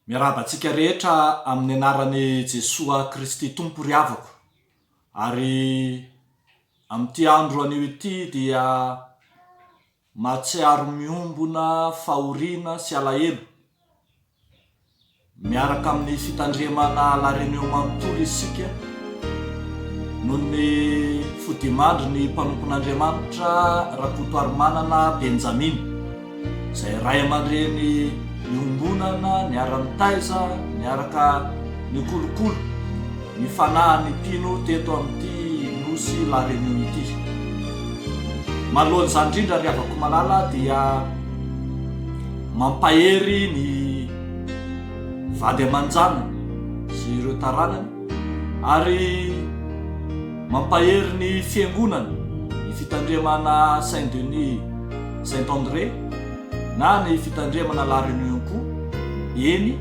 Miarahaba antsika rehetra amin'ny anaran'i Jesoa Kristy Tompo ry havako. Ary amin'ity andro anio ity dia mahatsiaro miombona fahoriana sy alahelo. Miaraka amin'ny fitandremana La Réunion manontolo isika noho ny fodimandry ny mpanompon'Andriamanitra Rakotoarimanana Benjamina. izay ray aman-dreny iombonana niara-nitaiza, niaraka nikolokolo ny fanahy ny mpino teto amin'ity Nosy La Réunion ity. Manoloana izany indrindra ry havako malala dia mampahery ny vady aman-janany sy ireo taranany ary Mampahery ny Fiangonana ny fitandremana Saint Denis Saint André na ny fitandremana La Réunion koa, eny,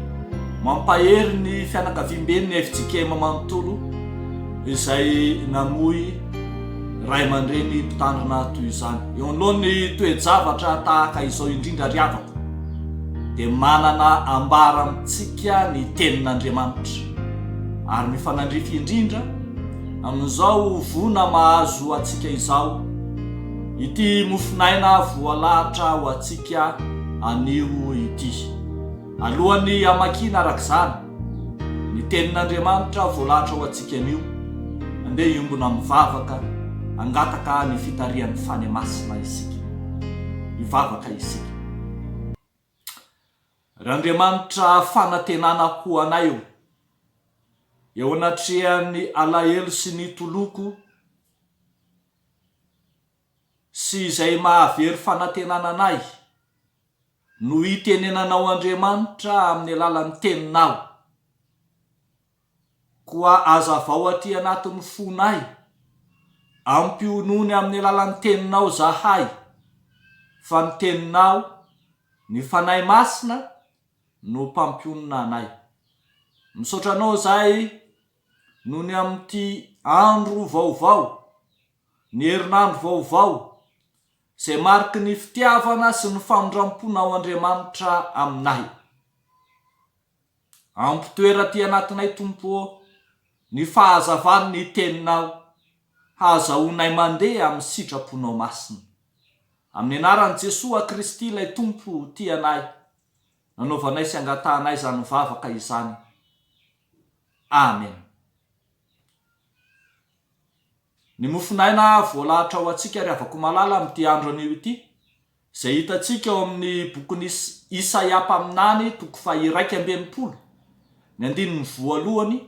mampahery ny fianakaviamben'ny fjkm manontolo izay namoy ray aman-dreny mpitandrina toy izany. Eo anoloan'ny toe-javatra tahaka izao indrindra ry havako dia manana ambara amintsika ny Tenin'Andriamanitra ary mifanandrify indrindra, amin'izao voana mahazo antsika izao, ity mofon'aina voalahatra ho antsika anio ity. Alohan'ny hamakiana araka izany ny Tenin'Andriamanitra voalahatra ho antsika anio, andeha hiombona mivavaka hangataka ny fitarihan'ny Fane Masina isika. Hivavaka isika. Randriamanitra fanantenana ho anay ô. Eo anatrehan'ny alahelo sy ny toloko sy izay maha very fanantenana anay no itenenanao Andriamanitra amin'ny alalan'ny teninao. Koa hazavao aty anatin'ny fonay, ampionony amin'ny alalan'ny Teninao zahay, fa ny Teninao, ny Fanahy Masina, no mpampionona anay. Misaotra Anao zahay nony amin'ity andro vaovao, ny herinandro vaovao, izay mariky ny fitiavana sy ny famindram-ponao Andriamanitra aminay. Ampitoera aty anatinay Tompo ô, ny fahazavan ny teninao, hahazahoanay mandeha amin ny sitraponao masina. Amin ny anaran Jesoa Kristy ilay Tompo tia anay, nanaovanay sy angatahanay izany vavaka izany. Amen. Ny mofon'aina voalahatra ho antsika ry havako malala amin'ity andro anio ity Izay hitantsika ao amin'ny bokin'i Isaia mpaminany, toko faha-iraika amby enimpolo, ny andininy voalohany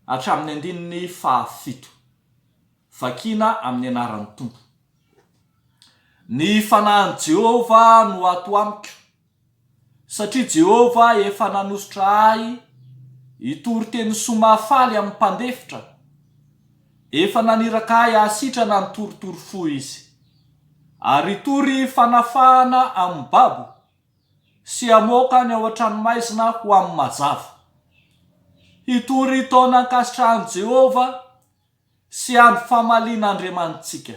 hatramin'ny andininy fahafito. Vakina amin'ny anaran'ny Tompo. Ny fanahin'i Jehovah no ato amiko. Satria Jehovah efa nanosotra ahy hitory teny soa mahafaly amin'ny mpandefitra, efa naniraka ahy hahasitrana ny torotoro fo izy, ary hitory fanafahana amin'ny babo, sy hamoaka ny ao an-tranomaizina ho amin'ny mazava. Hitory taona ankasitrahan'i Jehovah sy andro famaliana Andriamanitsika.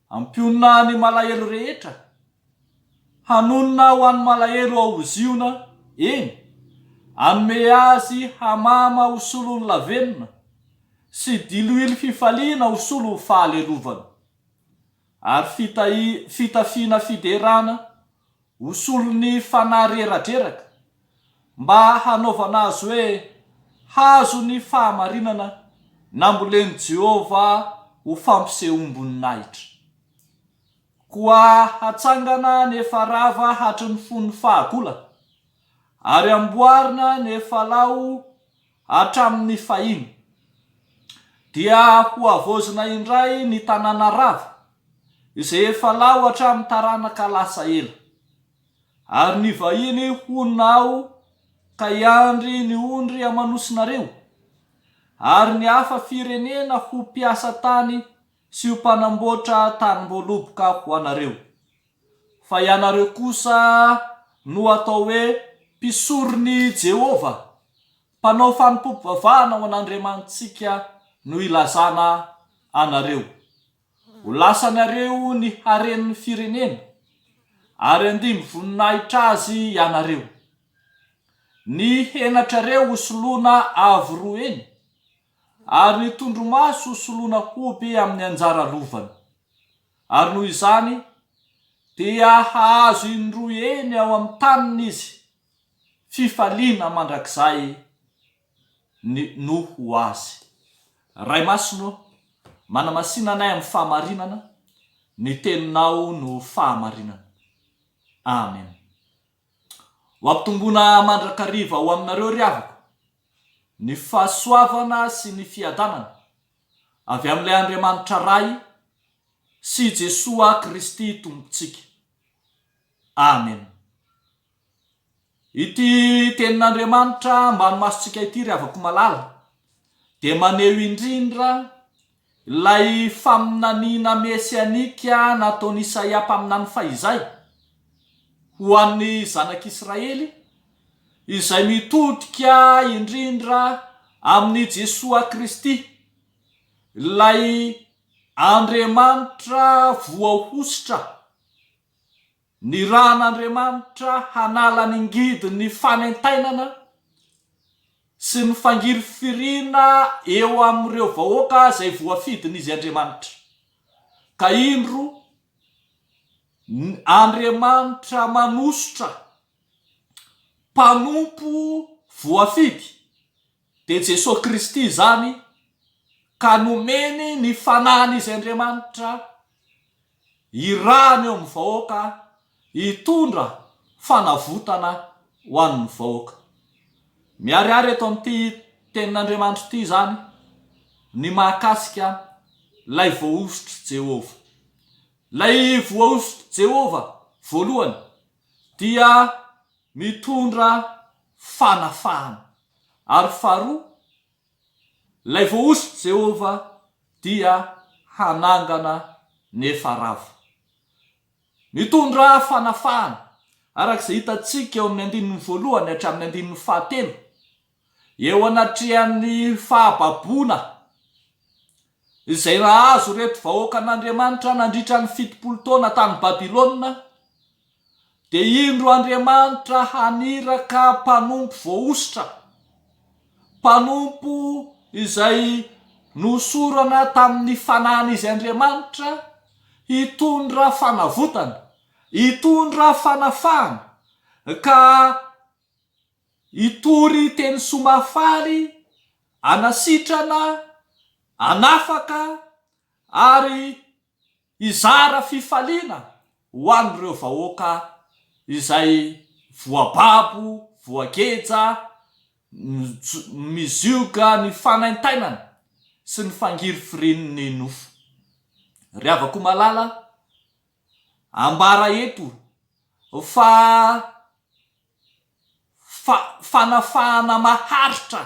Ampionona ny malahelo rehetra, hanonona ho an'ny malahelo ao ho Ziona, eny, hanome azy hamama ho solon'ny lavenona, sy diloilo fifaliana ho solon'ny fahalelovana. Ary fitahiana, fitafiana fiderana Ho solon'ny fanahy reradreraka, mba hanaovana azy hoe hazo ny fahamarinana nambolen'i Jehovah ho fampisehoam-boninahitra. Koa hatsangana ny efa rava hatry ny fon'ny fahagola, ary amboarina ny efa lao Hatramin'ny fahiny, dia hohavaozina indray ny tanàna rava, izay efa laho hatramin'ny taranaka lasa ela. Ary ny vahiny honina ao ka hiandry ny ondry amanosinareo, ary ny hafa firenena ho mpiasa tany sy ho mpanamboatra tanimboaloboka ho anareo. fa ianareo kosa no atao hoe mpisoron'i Jehovah, mpanao fanompoam-pivavahana ho an'Andriamanitsika no ilazana anareo. Ho lasanareo ny haren'ny firenena, ary handimby voninahitra azy ianareo. Ny henatrareo ho soloana avo roa eny, ary ny tondromaso ho soloana hoby amin'ny anjara lovany. ary noho izany dia hahazo indroa eny ao amin'ny taniny izy, fifaliana mandrakizay no ho azy. Ray Masina ô, manamasina anay amin'ny fahamarinana, ny Teninao no fahamarinana. Amen. Ho ampitomboina mandrakariva ho aminareo, ry havako, ny fahasoavana sy ny fiadanana avy amin'ilay Andriamanitra Ray sy i Jesoa Kristy Tompontsika. Amen. Ity Tenin'Andriamanitra ambany masontsika ity, ry havako malala, dia maneho indrindra Ilay faminaniana mesianika nataon'i Isaia mpaminany fahizay ho an'ny Zanak'Israely, izay mitodika indrindra amin'i Jesoa Kristy, ilay Andriamanitra voahosotra Nirahan'Andriamanitra hanala ny ngidin'ny fanentainana sy ny fangirifiriana eo amin'ireo vahoaka izay voafidin'Izy Andriamanitra. Ka indro, ny Andriamanitra manosotra mpanompo voafidy Dia Jesoa Kristy izany ka nomeny ny Fanahiny Izy Andriamanitra hirahana eo amin'ny vahoaka hitondra fanavotana ho an'ny vahoaka. Miharihary eto amin'ity Tenin'Andriamanitra ity izany ny mahakasika ilay voahosotr'i Jehovah. Ilay voahosotr'i Jehovah voalohany dia mitondra fanafahana, ary faharoa, ilay voahosotr'i Jehovah dia hanangana nefa rava. Mitondra fanafahana, araka izay hitantsika eo amin'ny andininy voalohany hatramin'ny andininy fahatelo. eo anatrehan'ny fahababoana izay nahazo ireto vahoakan'Andriamanitra nandritra ny fitopolo taona tany Babylona, dia indro Andriamanitra haniraka mpanompo voahosotra, mpanompo izay nohosorana tamin'ny Fanahin'izy Andriamanitra, hitondra fanavotana, hitondra fanafahana, ka. Hitory teny soa mahafaly, hanasitrana, hanafaka ary hizara fifaliana ho an'ireo vahoaka izay voababo, voageja, mizioga ny fanaintainana sy ny fangirifirian'ny nofo. Ry havako malala, ambara eto fa. fa fanafahana maharitra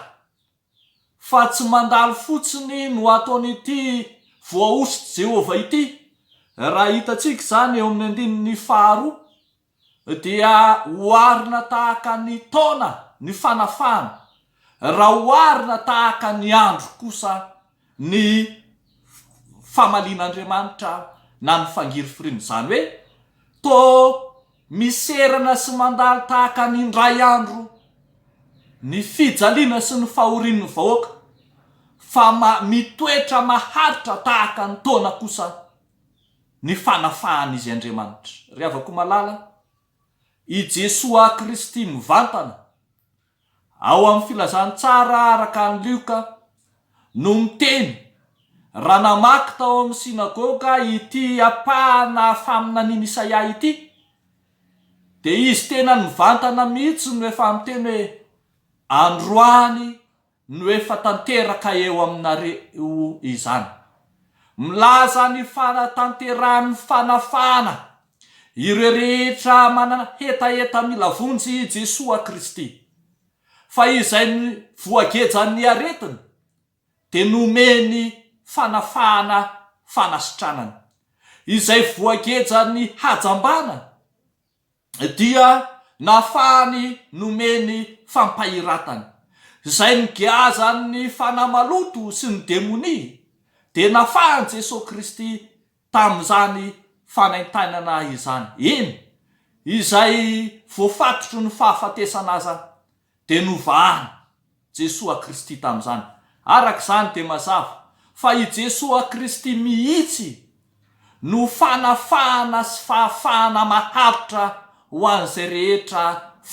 fa tsy mandalo fotsiny no ataon'ity voahosotry Jehovah ity. Raha hitantsika izany eo amin'ny andininy faharoa, dia oharina tahaka ny taona ny fanafahana, raha oharina tahaka ny andro kosa ny famalian'Andriamanitra na ny fangirifiriana, izany hoe toa miserana sy mandalo tahaka ny indray andro ny fijaliana sy ny fahorian'ny vahoaka, fa mitoetra maharitra tahaka ny taona kosa ny fanafahan'Izy Andriamanitra. Ry havako malala, i Jesoa Kristy mivantana ao amin'ny Filazantsara araka an'i Lioka, no miteny, raha namaky tao amin'ny synagoga ity ampahana faminanian'i Isaia ity, dia izy tena nivantana mihitsy no efa miteny hoe, Androany no efa tanteraka eo aminareo izany. Milaza ny fanatanterahan'ny fanafahana ireo rehetra manana hetaheta mila vonjy i Jesoa Kristy, fa izay voagejan'ny aretiny dia nomeny fanafahana fanasitranana, izay voagejan'ny hajambana dia nafahany nomeny fampahiratana, izay nogeazan'ny fanahy maloto sy ny demonia dia nafahan'i Jesoa Kristy tamin'izany fanaintainana izany, eny, izay voafatotry ny fahafatesana aza dia novahana Jesoa Kristy tamin'izany. Araka izany dia mazava fa i Jesoa Kristy mihitsy no fanafahana sy fahafahana maharitra ho an'izay rehetra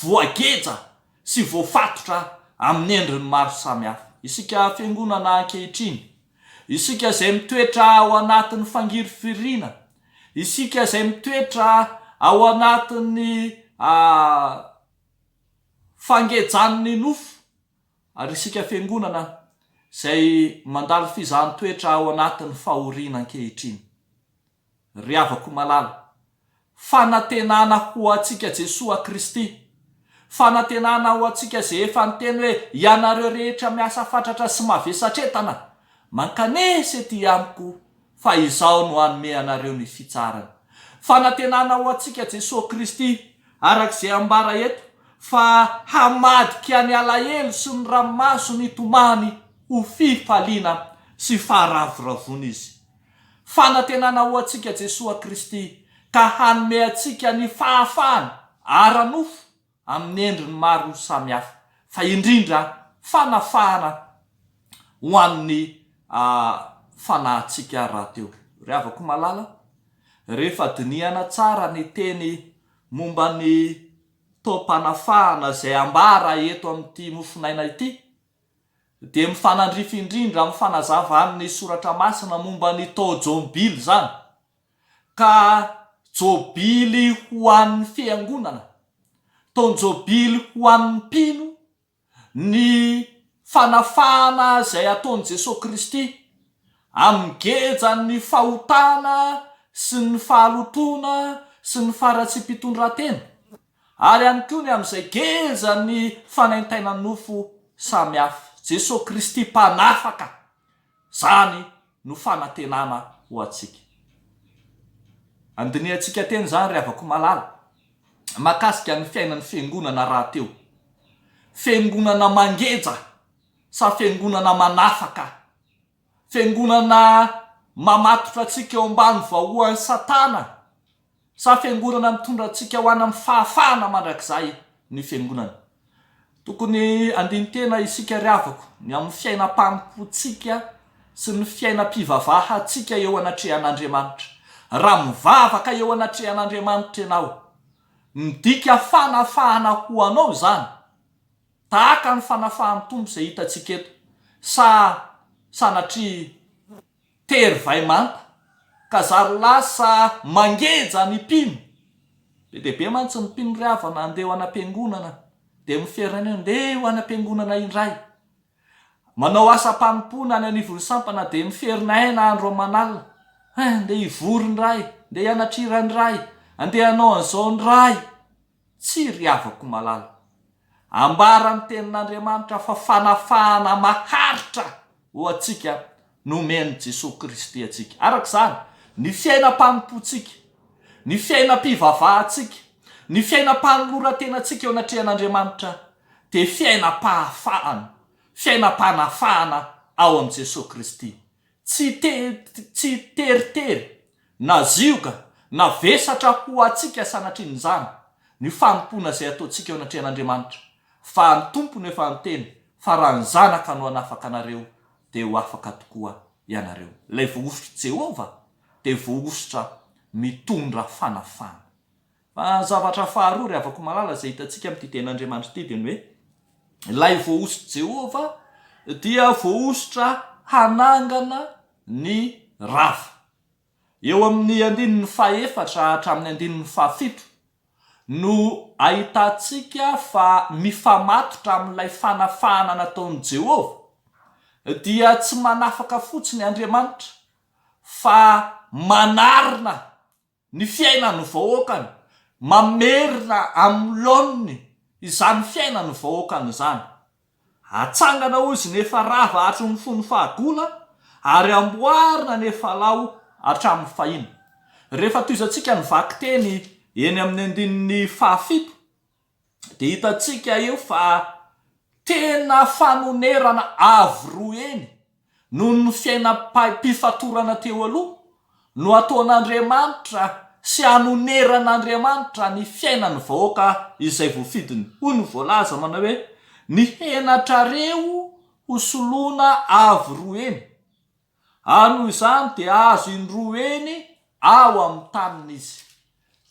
voageja sy voafatotra amin'ny endriny maro samihafa. Isika Fiangonana ankehitriny Isika izay mitoetra ao anatin'ny fangirifiriana, isika izay mitoetra ao anatin'ny fangejan'ny nofo, ary isika Fiangonana izay mandalo fizahan-toetra ao anatin'ny fahoriana ankehitriny. ry havako malala. Fanantenana ho antsika Jesoa Kristy. Fanantenana ho antsika izay efa niteny hoe ianareo rehetra miasa fatratra sy mavesatretana, mankanesa ety amiko fa izaho no hanome anareo ny fitsarana. Fanantenana ho antsika Jesoa Kristy, araka izay ambara eto, fa hamadika ny alahelo sy ny ranomaso nitomany ho fifaliana sy faharavoravoana Izy. Fanantenana ho antsika Jesoa Kristy ka hanome antsika ny fahafahana ara-nofo amin'ny endriny maro samihafa, fa indrindra fanafahana ho an'ny fanahintsika rahateo. Ry havako malala, rehefa dinihana tsara ny teny momba ny taom-panafahana izay ambara eto amin'ity mofonaina ity, dia mifanandrify indrindra amin'ny fanazavan'ny Soratra Masina momba ny taon-jobily izany, ka jobily ho an'ny Fiangonana, taon-jobily ho an'ny mpino, ny fanafahana izay ataon'i Jesoa Kristy, amin'ny gejan'ny fahotana sy ny fahalotoana sy ny faharatsiam-pitondrantena. ary ihany koa ny amin'izay geja ny fanaintaina nofo samy hafa. Jesoa Kristy Mpanafaka, izany no fanantenana ho antsika. Andinihantsika teny izany ry havako malala, mahakasika ny fiainan'ny Fiangonana rahateo. Fiangonana mangeja sa Fiangonana manafaka? Fiangonana mamatotra antsika eo ambany vahoan'i Satana sa fiangonana mitondra antsika ho any amin'ny fahafahana mandrakizay ny Fiangonana? Tokony handini-tena isika ry havako ny amin'ny fiainam-panompoantsika sy ny fiainam-pivavahantsika eo anatrehan'Andriamanitra. Raha mivavaka eo anatrehan'Andriamanitra ianao, midika fanafahana ho anao izany. Tahaka ny fanafahan'ny Tompo izay hitantsika eto, sa sanatria tery vay manta, ka zary lasa mangeja ny mpino? Be dia be mantsy ny mpino ry havana andeha ho any am-piangonana, dia miferina eo, ndeha ho any am-piangonana indray. Manao asam-panompoana any anivon'ny sampana, dia miferina aina andro aman'alina, Hay, andeha hivory ny ray, andeha hianatra hira ny ray, andeha hanao an'izao ny ray. Tsia ry havako malala. Ambara ny tenin'Andriamanitra fa fanafahana maharitra ho antsika no omen'i Jesoa Kristy antsika. Araka izany, ny fiainam-panompoantsika, ny fiainam-pivavahantsika, ny fiainam-panoloran-tenantsika eo anatrehan'Andriamanitra dia fiainam-pahafahana, fiainam-panafahana ao amin'i Jesoa Kristy. Tsy tsy teritery, na zioga, na vesatra ho antsika sanatrin'izany ny fanompoana izay ataontsika eo anatrehan'Andriamanitra, fa ny Tompo no efa niteny fa raha ny Zanaka no hanafaka anareo dia ho afaka tokoa ianareo. Ilay voahosotr'i Jehovah dia voahosotra mitondra fanafahana. Fa ny zavatra faharoa ry havako malala izay hitantsika amin'ity Tenin'Andriamanitra ity dia ny hoe ilay voahosotry Jehovah dia voahosotra hanangana ny rava. Eo amin'ny andininy fahefatra hatramin'ny andininy fahafito no ahitantsika fa mifamatotra amin'ilay fanafahana nataon'i Jehovah dia tsy manafaka fotsiny Andriamanitra fa manarina ny fiainan'ny vahoakany, mamerina amin'ny laoniny izany fiainan'ny vahoakany izany. Atsangana hozy ny efa rava hatry ny fony fahagola ary amboarina ny efa lao hatramin'ny fahiny. Rehefa tohizantsika ny vakiteny eny amin'ny andininy fahafito, dia hitantsika eo fa tena fanonerana avo roa heny noho ny fiainam-pifatorana teo aloha no ataon'Andriamanitra sy hanoneran'Andriamanitra ny fiainan'ny vahoaka izay voafidiny. Hoy ny voalaza manao hoe, Ny henatrareo ho soloina avo roa heny. ary noho izany dia azo indroa eny ao amin'ny taniny izy.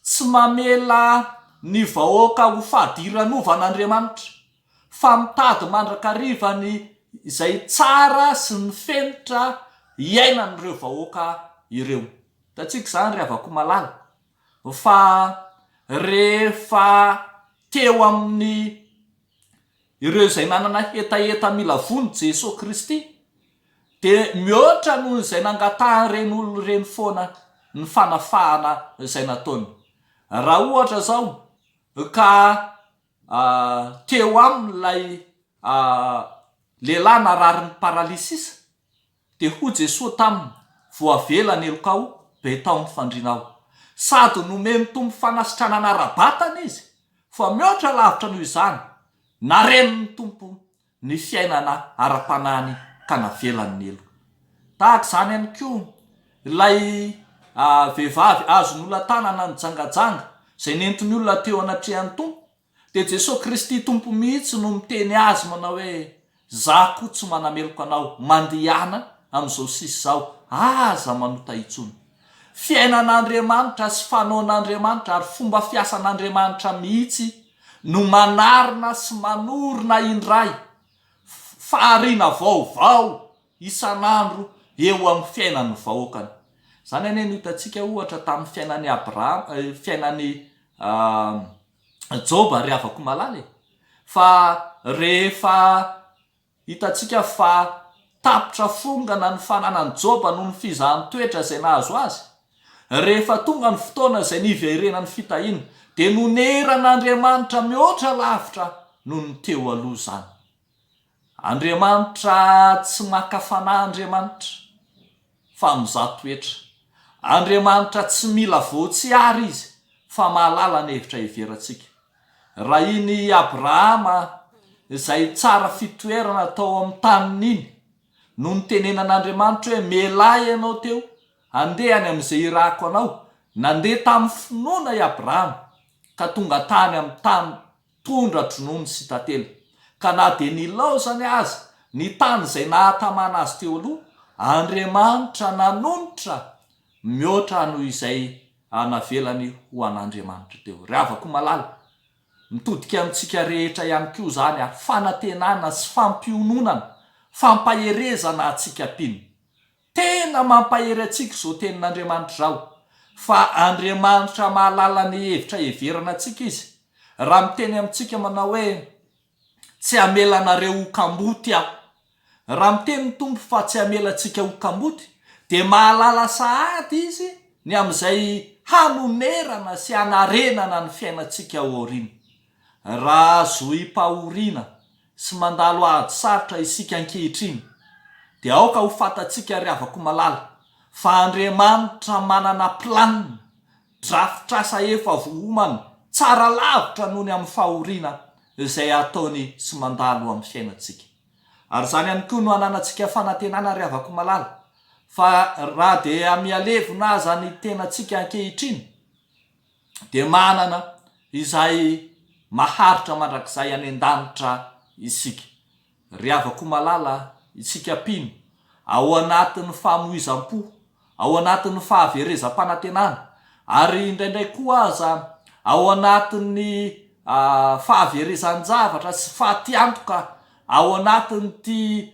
Tsy mamela ny vahoaka ho fadiranovàn'Andriamanitra, fa mitady mandrakariva ny izay tsara sy ny fenitra iainan'ireo vahoaka ireo. Hitantsika izany, ry havako malala, fa rehefa teo amin'ny. ireo izay nanana hetaheta mila vono Jesoa Kristy dia mihoatra noho izay nangatahan'ireny olona ireny foana ny fanafahana izay nataony. Raha ohatra izao ka teo aminy ilay lehilahy nararin'ny paralysisa Dia hoy Jesoa taminy, Voavela ny helokao, be tao ny fandrinao. Sady nomen'ny Tompo fanasitranana ara-batana izy, fa mihoatra lavitra noho izany, narenin'ny Tompo ny fiainana ara-panahiny ka navelany ny heloka. Tahaka izany ihany koa ilay vehivavy azon'olona tanana nijangajanga, izay nentin'ny olona teo anatrehan'ny Tompo, Dia Jesoa Kristy Tompo mihitsy no miteny azy manao hoe, Za koa tsy manameloka anao, mandehana amin'izao sisa izao, aza manota intsony. Fiainan'Andriamanitra sy fanaon'Andriamanitra ary fomba fiasan'Andriamanitra mihitsy no manarina sy manorina indray fahariana vaovao isan'andro eo amin'ny fiainan'ny vahoakany. Izany anie no hitantsika ohatra tamin'ny fiainan'i Abrahama, fiainan'i. Joba ry havako malala e! fa rehefa hitantsika fa tapitra fongana ny fananan'i Joba noho ny fizahan-toetra izay nahazo azy, rehefa tonga ny fotoana izay niverenany fitahiana, dia noneran'Andriamanitra mihoatra lavitra noho ny teo aloha izany. Andriamanitra tsy maka fanahy Andriamanitra fa mizaha toetra. Andriamanitra tsy mila voatsiary izy fa mahalala ny hevitra heverantsika. Raha iny Abrahama izay tsara fitoerana tao amin'ny taniny iny no nitenenan'Andriamanitra hoe mialahy ianao teo handeha any amin'izay irahako anao, nandeha tamin'ny finoana i Abrahama ka tonga tany amin'ny tany Tondra dronono sy tantely. Ka na dia nilaozany aza ny tany izay nahatamana azy teo aloha, Andriamanitra nanonitra mihoatra noho izay navelany ho an'Andriamanitra teo. Ry havako malala, mitodika amintsika rehetra ihany koa izany ary fanantenana sy fampiononana, fampaherezana antsika mpino. Tena mampahery antsika izao tenin'Andriamanitra izao, fa Andriamanitra mahalala ny hevitra heverana antsika Izy, raha miteny amintsika manao hoe, Tsy hamela anareo ho kamboty Aho. Raha miteny ny Tompo fa tsy hamela antsika ho kamboty, dia mahalala sahady Izy ny amin'izay hanonerana sy hanarenana ny fiainantsika ao aoriana. Raha azohi-pahoriana sy mandalo ady sarotra isika ankehitriny, dia aoka ho fantatsika ry havako malala, fa Andriamanitra manana planina, drafitr'asa efa vohomany tsara lavitra noho ny amin'ny fahoriana izay ataony sy mandalo amin'ny fiainantsika. Ary izany ihany koa no ananantsika fanantenana ry havako malala, fa raha dia mihalevona aza ny tenantsika ankehitriny, dia manana izay maharitra mandrakizay any an-danitra isika. Ry havako malala, isika mpino, ao anatin'ny famoizam-po, ao anatin'ny fahaverezam-panantenana, ary indraindray koa aza ao anatin'ny fahaverezan-javatra sy fatiantoka ao anatin'ity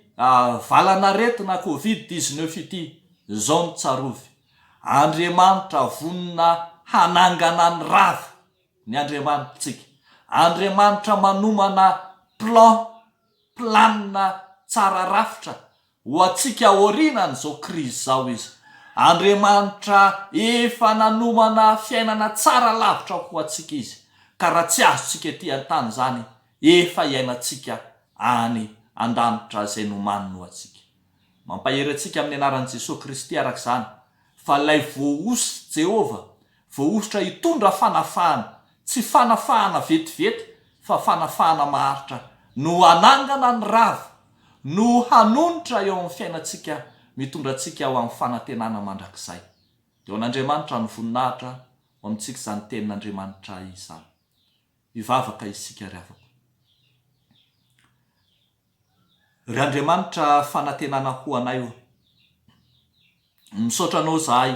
valan'aretina covid dix-neuf ity izao ny tsarovy. Andriamanitra vonona hanangana ny rava ny Andriamanitrtsika. Andriamanitra manomana plan, planina tsara rafitra ho antsika aorianan'izao krizy izao Izy. Andriamanitra efa nanomana fiainana tsara lavitra ho antsika Izy, ka raha tsy azontsika ety an-tany izany, efa iainantsika any an-danitra izay nomaniny ho antsika. Mampahery antsika amin'ny anaran'i Jesoa Kristy araka izany, fa ilay voahosy, Jehovah, voahosotra hitondra fanafahana, tsy fanafahana vetivety, fa fanafahana maharitra, no hanangana ny rava, no hanonitra eo amin'ny fiainantsika, mitondra antsika ho amin'ny fanantenana mandrakizay. Dia ho an'Andriamanitra ny voninahitra, ho amintsika izany Tenin'Andriamanitra izany. Hivavaka isika ry havako. Ry Andriamanitra fanantenana ho anay ô. Misaotra Anao izahay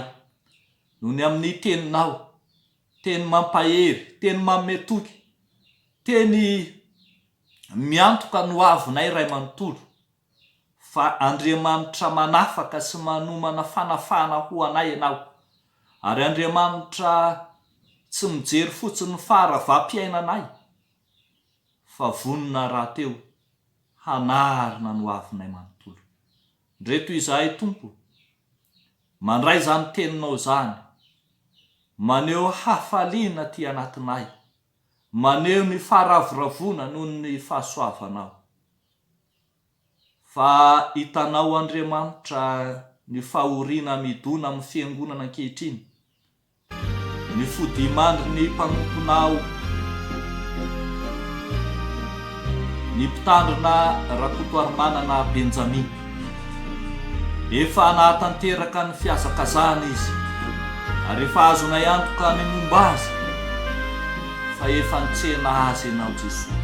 noho ny amin'ny Teninao, Teny mampahery, Teny manome toky, Teny miantoka ny hoavinay Ray manontolo. fa Andriamanitra manafaka sy manomana fanafahana ho anay ianao, ary Andriamanitra tsy mijery fotsiny ny faharavam-piainanay, fa vonona rahateo hanarina ny ho avinay manontolo. Ndray toy izahay, Tompo, mandray izany Teninao izany, maneho hafaliana aty anatinay, maneho ny faharavoravoana noho ny fahasoavanao. Fa hitanao Andriamanitra ny fahoriana hamidona amin'ny Fiangonana ankehitriny, ny fodiman-dry ny mpanomponao, ny Mpitandrina Rakotoarimanana Benjamina. Efa nahatanteraka ny fihazakazahany izy, ary efa azonay antoka ny momba azy fa efa nitsena azy ianao Jesoa.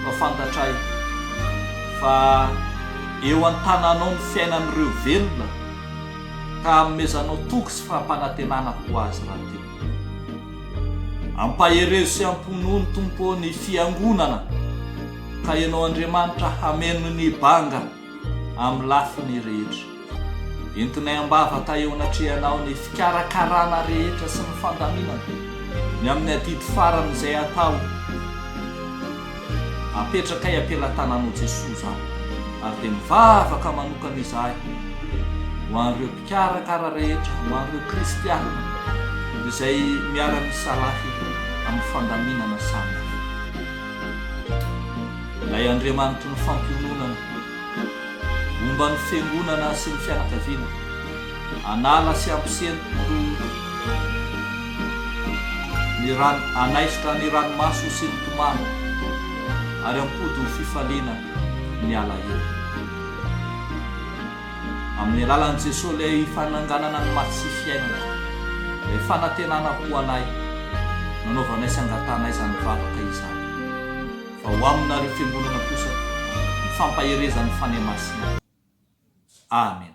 Mba fantatray fa eo an-tananao ny fiainan'ireo velona ka amezanao toky sy fampanantenana ho azy rahateo. Ampaherezo sy amponono Tompo ô ny fiangonana ka ianao Andriamanitra hameno ny banga amin'ny lafiny rehetra. Entinay am-bavaka eo anatrehanao ny fikarakarana rehetra sy ny fandaminana ny amin'ny adidy farany izay hatao. Apetrakay am-pelatananao Jesoa izany ary dia mivavaka manokana izahay ho an'ireo mpikarakara rehetra, ho an'ireo kristiana izay miara-misalahy amin'ny fandaminana samihafa. Ilay Andriamanitry ny fampiononana, momba ny fiangonana sy ny fianakaviana, hanala sy hampisento ny rano, hanaisotra ny ranomaso sy ny tomany, ary hampody ho fifaliana ny alahelo. Amin'ny alalan'i Jesoa ilay fananganana ny maty sy fiainana, ilay fanantenana ho anay, nanaovanay sy angatanay izany vavaka izany. Fa ho aminareo fiangonana kosa ny fampaherezan'ny Fanahy Masina. Amen.